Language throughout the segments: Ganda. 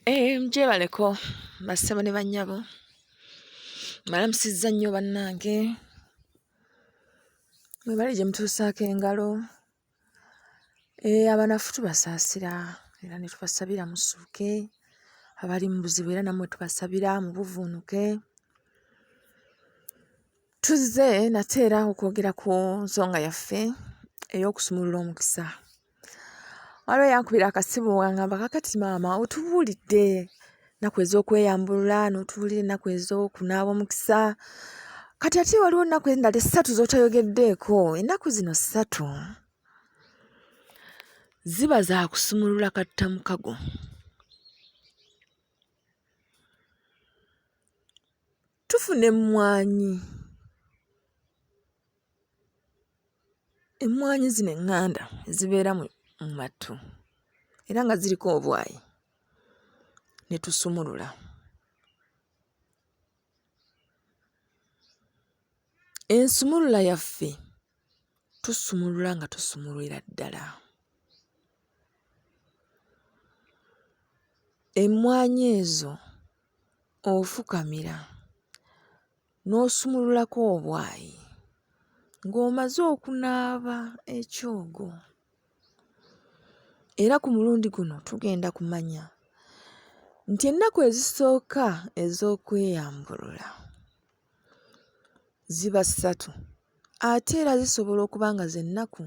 Eh, gyebaleko bassebo ne bannyabo malamusizza nnyo bannange mwebali gye mutuusaako engalo eh, abanafu tubasaasira era ne tubasabira musuuke abali mu buzibu era nammwe tubasabira mu buvuunuke tuzze nate era okwogera ku nsonga yaffe ey'okusumulula omukisa waliwo yankubira akasimu wangamba kakati maama otubuulidde ennaku ez'okweyambulula n'otubuulira ennaku ez'okunaaba omukisa kati ate waliwo ennaku endala essatu z'otayogeddeeko ennaku zino ssatu ziba za kusumulula katta mukago tufuna emmwanyi emmwanyi zino eŋŋanda ezibeera mu mattu era nga ziriko obwayi ne tusumulula ensumulula yaffe tusumulula nga tusumulwira ddala emmwanyi ezo Ofukamira n'osumululako obwayi ng'omaze okunaaba ekyogo era ku mulundi guno tugenda kumanya nti ennaku ezisooka ez'okweyambulula ziba ssatu ate era zisobola okuba nga z'ennaku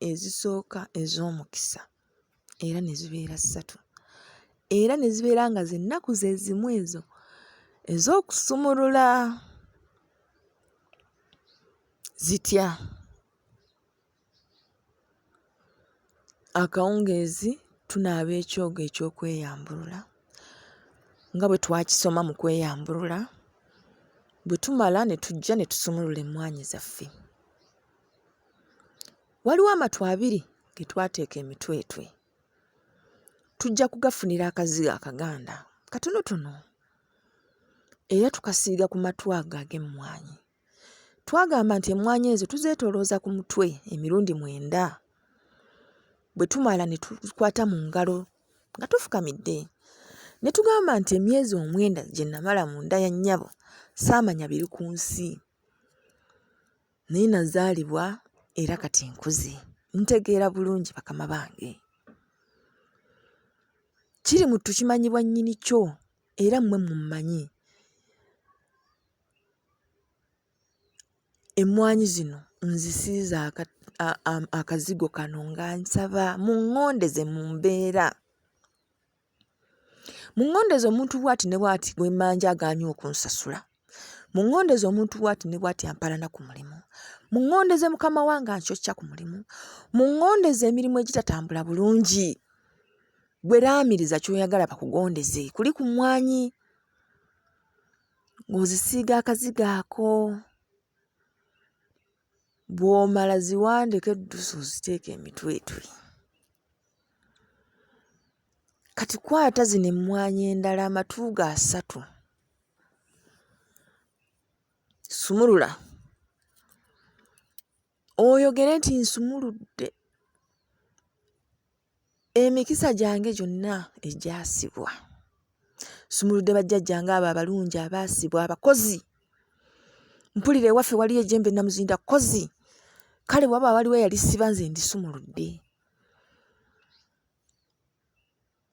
ezisooka ez'omukisa. era ne zibeera ssatu era ne zibeera nga zennaku ze zimu ezo ez'okusumulula zitya akawungeezi tunaaba ekyogo eky'okweyambulula nga bwe twakisoma mu kweyambulula bwe tumala ne tujja ne tusumulula emmwaanyi zaffe Waliwo amatu abiri ge twateeka emitwetwe. Tujja kugafunira akazigo akaganda katonotono era tukasiiga ku matu ago ag'emmwanyi. Twagamba nti emmwanyi ezo tuzeetoolooza ku mutwe emirundi mwenda. Bwe tumala ne tukwata mu ngalo nga tufukamidde ne tugamba nti emyezi omwenda gye namala mu nda ya nnyabo saamanya biri ku nsi. Naye nazaalibwa era kati nkuze. Ntegeera bulungi bakama bange. Kiri mu ttu kimanyibwa nnyini kyo era mmwe mummanyi. Emmwanyi zino nzisiize akazigo kano nga nsaba muŋŋondeze mu mbeera mu ŋŋondeza omuntu bwati ne bwati gwe mmanja agaanyi okunsasula mu ŋŋondeza omuntu bwati ne bwati ampalana ku mulimu mu ŋŋondeze mukama wange ankyokya ku mulimu mu ŋŋondeza emirimu egitatambula bulungi gwe laamiriza ky'oyagala bakugondeze kuli ku mmwanyi ng'ozisiiga akazigo ako bw'omala ziwandeko eddusu oziteeke emitwetwe kati kwata zino emmwanyi endala amatu ga asatu sumulula oyogere nti nsumuludde emikisa gyange gyonna egyasibwa sumuludde bajjajja ngaabo abalungi abaasibwa abakozi mpulira ewaffe waliyo ejembe namuzinda kozi kale waba waliwo eyalisiba nze ndisumuludde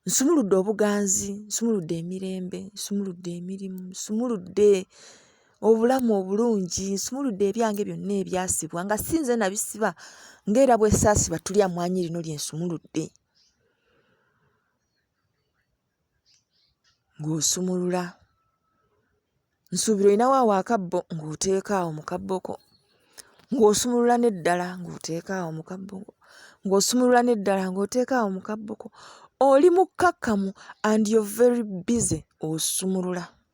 nsumuludde obuganzi nsumuludde emirembe nsumuludde emirimu nsumuludde obulamu obulungi nsumuludde ebyange byonna ebyasibwa nga si nze nabisiba ng'era bwesaasiba tuli amwanyi lino lye nsumuludde ng'osumulula nsuubira olinawo awo akabbo ng'oteeka awo mu kabboko ng'osumulula n'eddala ng'oteeka awo mu kabboko ng'osumulula n'eddala ng'oteeka awo mu kabboko oli mukkakkamu and you're very busy osumulula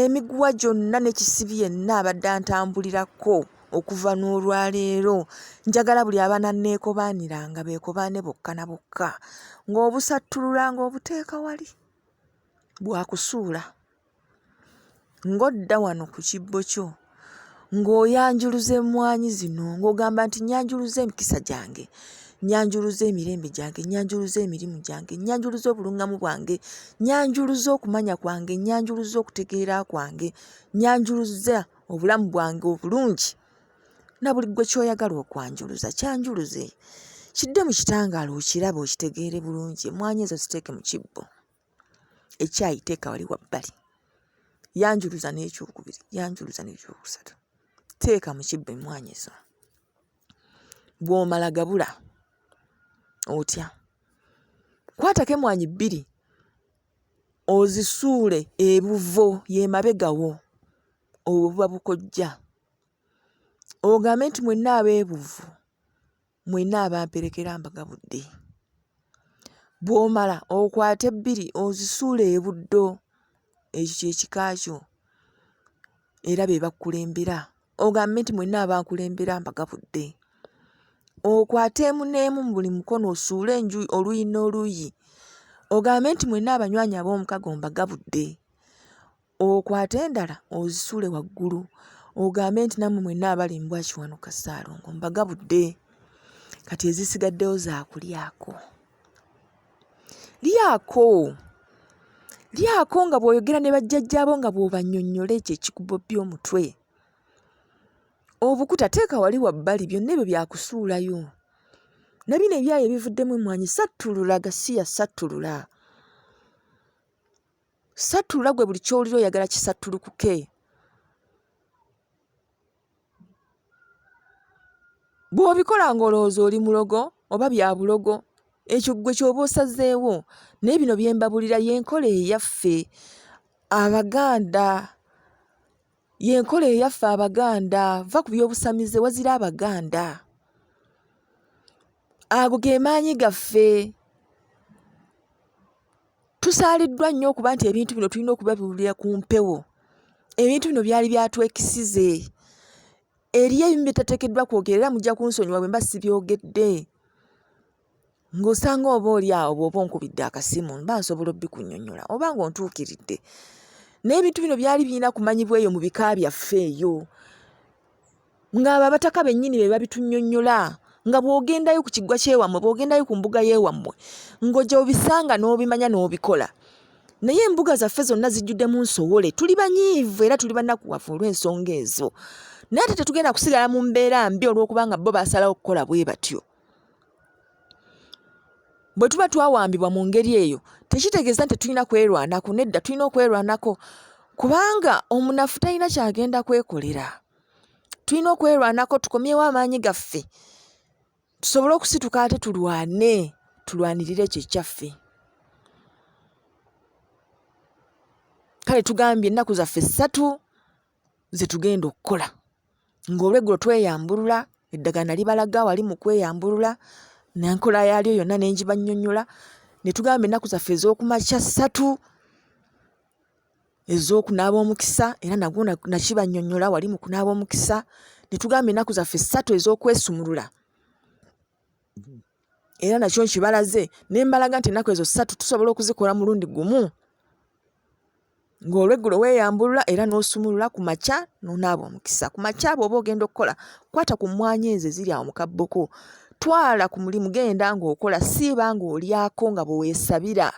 Emiguwa gyonna ne kisibi yenna abadde antambulirako okuva n'olwaleero njagala buli abaana neekobaaniranga beekobaane bokka na bokka ng'obusattulula ng'obuteeka wali bwakusuula ng'odda wano ku kibbo kyo ng'oyanjuluza emmwanyi zino ng'ogamba nti nyanjuluza emikisa gyange nyanjuluza emirembe gyange nyanjuluza emirimu gyange nyanjuluza obulungamu bwange nyanjuluza okumanya kwange nyanjuluza okutegeera kwange nyanjuluza obulamu bwange obulungi na buli gwe kyoyagala okwanjuluza kyanjuluze kidde mu kitangaala okirabe okitegeere bulungi emmwanyi ezo ziteeke mu kibbo ekyayi teeka wali wabbali yanjuluza n'ekyokubiri yanjuluza n'ekyokusatu teeka mu kibba emmwaanyi ezo bw'omala gabula otya kwatako emmwaanyi bbiri ozisuule ebuvo yemabegawo obwo buba bukojja ogambe nti mwenna abeebuvu mwenna abamperekera mbagabudde bw'omala okwate bbiri ozisuule ebuddo ekyo kyekika kyo era be bakukulembera ogambe nti mwenna abakulembera mbagabudde okwate emu n'emu mu buli mukono osuule enju oluyi n'oluyi ogambe nti mwenna abanywanyi ab'omukago mbagabudde okwate endala ozisuule waggulu ogambe nti nammwe mwenna abali mbwa kiwanuka ssaalongo mbagabudde kati ezisigaddeyo zaakulyako lyako lyako nga bw'oyogera ne bajjajjaabo nga bw'obannyonnyola ekyo ekikubobbya omutwe obukuta teeka wali wabbali byonna ebyo byakusuulayo na bino ebyayo ebivuddemu emmwanyi sattulula gasiya sattulula Sattulula gwe buli ky'owulira oyagala kisattulukuke. Bw'obikola ng'olowooza oli mulogo oba bya bulogo, ekyo ggwe ky'oba osazeewo. Naye bino bye mbabulira y'enkola eyaffe Abaganda. Y'enkola eyaffe Abaganda. Va ku by'obusamize wazira Abaganda. Ago ge maanyi gaffe. Tusaaliddwa nnyo okuba nti ebintu bino tulina okubabiwulira ku mpewo. Ebintu bino byali byatwekisize. Eriyo ebimu bye tateekeddwa kwogera era mujja kunsonyiwa bwe mba sibyogedde. Ng'osanga oba oli awo bw'oba onkubidde akasimu mba nsobola obikunyonyola oba ng'ontuukiridde. Naye ebintu bino byali birina kumanyibwa eyo mu bika byaffe eyo. ng'abo abataka bennyini be babitunnyonnyola nga bw'ogendayo ku kiggwa ky'ewammwe bw'ogendayo ku mbuga y'ewammwe ng'ojja obisanga n'obimanya n'obikola naye embuga zaffe zonna zijjuddemu nsowole tuli banyiivu era tuli banakuwavu olw'ensonga ezo naye ate tetugenda kusigala mu mbeera mbi olw'okubanga bo basalawo okukola bwe batyo bwe tuba twawambibwa mu ngeri eyo tekitegeeza nti tulina kwerwanako nedda tulina okwerwanako kubanga omunafu talina kyagenda kwekolera tulina okwerwanako tukomyewo amaanyi gaffe tusobole okusituka ate tulwane tulwanirire ekyo ekyaffe kale tugambye ennaku zaffe ssatu ze tugenda okukola ng'olweggulo tweyambulula eddagana libalaga wali mu kweyambulula nenkola yaalyo yonna ne ngibannyonnyola ne tugamba ennaku zaffe ez'okumakya ssatu ez'okunaaba omukisa era nagwo nakibannyonnyola wali mu kunaaba omukisa ne tugamba ennaku zaffe ssatu ez'okwesumulula era nakyo nkibalaze ne mbalaga nti ennaku ezo ssatu tusobola okuzikola mulundi gumu ng'olweggulo weeyambulula era n'osumulula ku makya n'onaaba omukisa ku makya abo oba ogenda okukola kwata ku mmwanyi ezo eziri awo mu kabboko twala ku mulimu genda ng'okola siiba ng'olyako nga bwe weesabira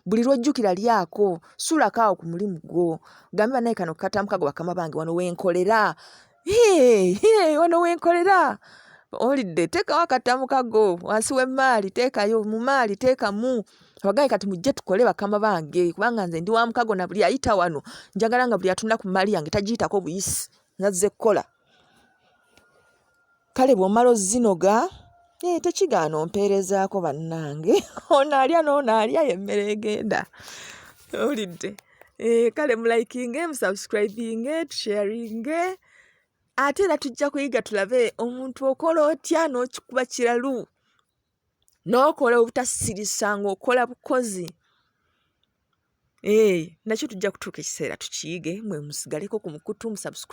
buli lwojjukira lyako sulako awo ku mulimu gwo gambe banaye kano katamukago bakama bange wano wenkolera wano wenkolera olidde teekawo akatamukago wansi w'emmaali teekayo mu maali teekamu abagaye kati mujje tukole bakama bange kubanga nze ndi wa mukago na buli ayita wano njagala nga buli atunda ku mmaali yange tagiyitako buyisi nazze kukola kale bw'omala ozinoga ee eh, tekigaana ompeerezaako bannange ono alya n'ono alya yemmere egenda owulidde ee eh, kale mulayikinge musubscribinge tusharinge ate era tujja kuyiga tulabe omuntu okola otya n'okikuba kiralu n'okola obutasirisa ng'okola bukozi ee eh, nakyo tujja kutuuka ekiseera tukiyige mwe musigaleko ku mukutu musubscribe